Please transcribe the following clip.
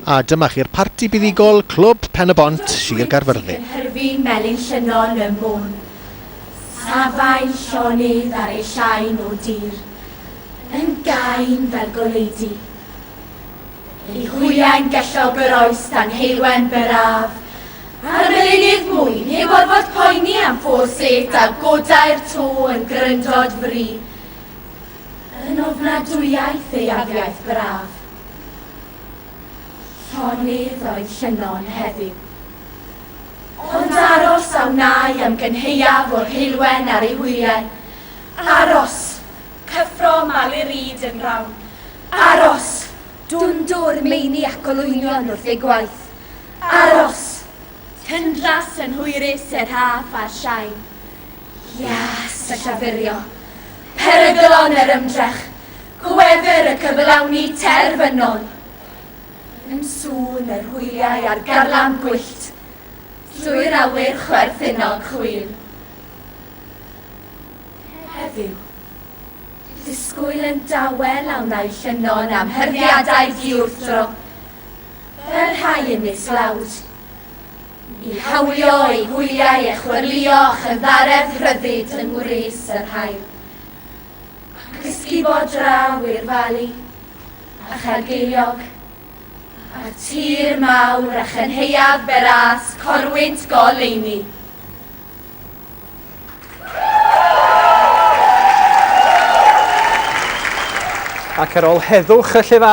A dyma chi'r parti buddugol Clwb Pen-y-bont, Sir Gaerfyrddin. Yn hyrddi melin llynnon ym môn, safai llonydd ar ei llain o dir, yn gain fel goleudy. Ei hwyau'n gellog yr oes dan heulwen byrraf, a'r melinydd mwyn heb orfod poeni am ffôr sêt a godai'r to yn gryndod fri, Yn ofnadwyaeth ei afiaith braf. Llonydd oedd Llynnon heddiw. Ond aros a wnâi am gynhaeaf o'r heulwen ar ei hwyliau. Aros! Cyffro Malureed yn rawn. Aros! Dwndwr meini ac olwynion wrth eu gwaith. Aros! Tyndras yn hwyrus er haf a'r shain. Ias a llafurio, peryglon yr ymdrech, gwefr y cyflawni terfynol. Yn sŵn yr hwyliau a'r garlam gwyllt, trwy'r awyr chwerthinog chwil. Heddiw, disgwyl yn dawel a wnai llynno'n amhyrdiadau diwrthdro, fel rhai yn mis lawd. i hawlio eu hwyliau a chwyrlïo a chynddaredd rhyddid yng ngwres yr haul, ac ysgubo draw i'r Fali, a Chaergeiliog, a'r tir mawr a chenhaeaf Beras, corwynt goleuni. Ac ar ol heddwch y llefaru,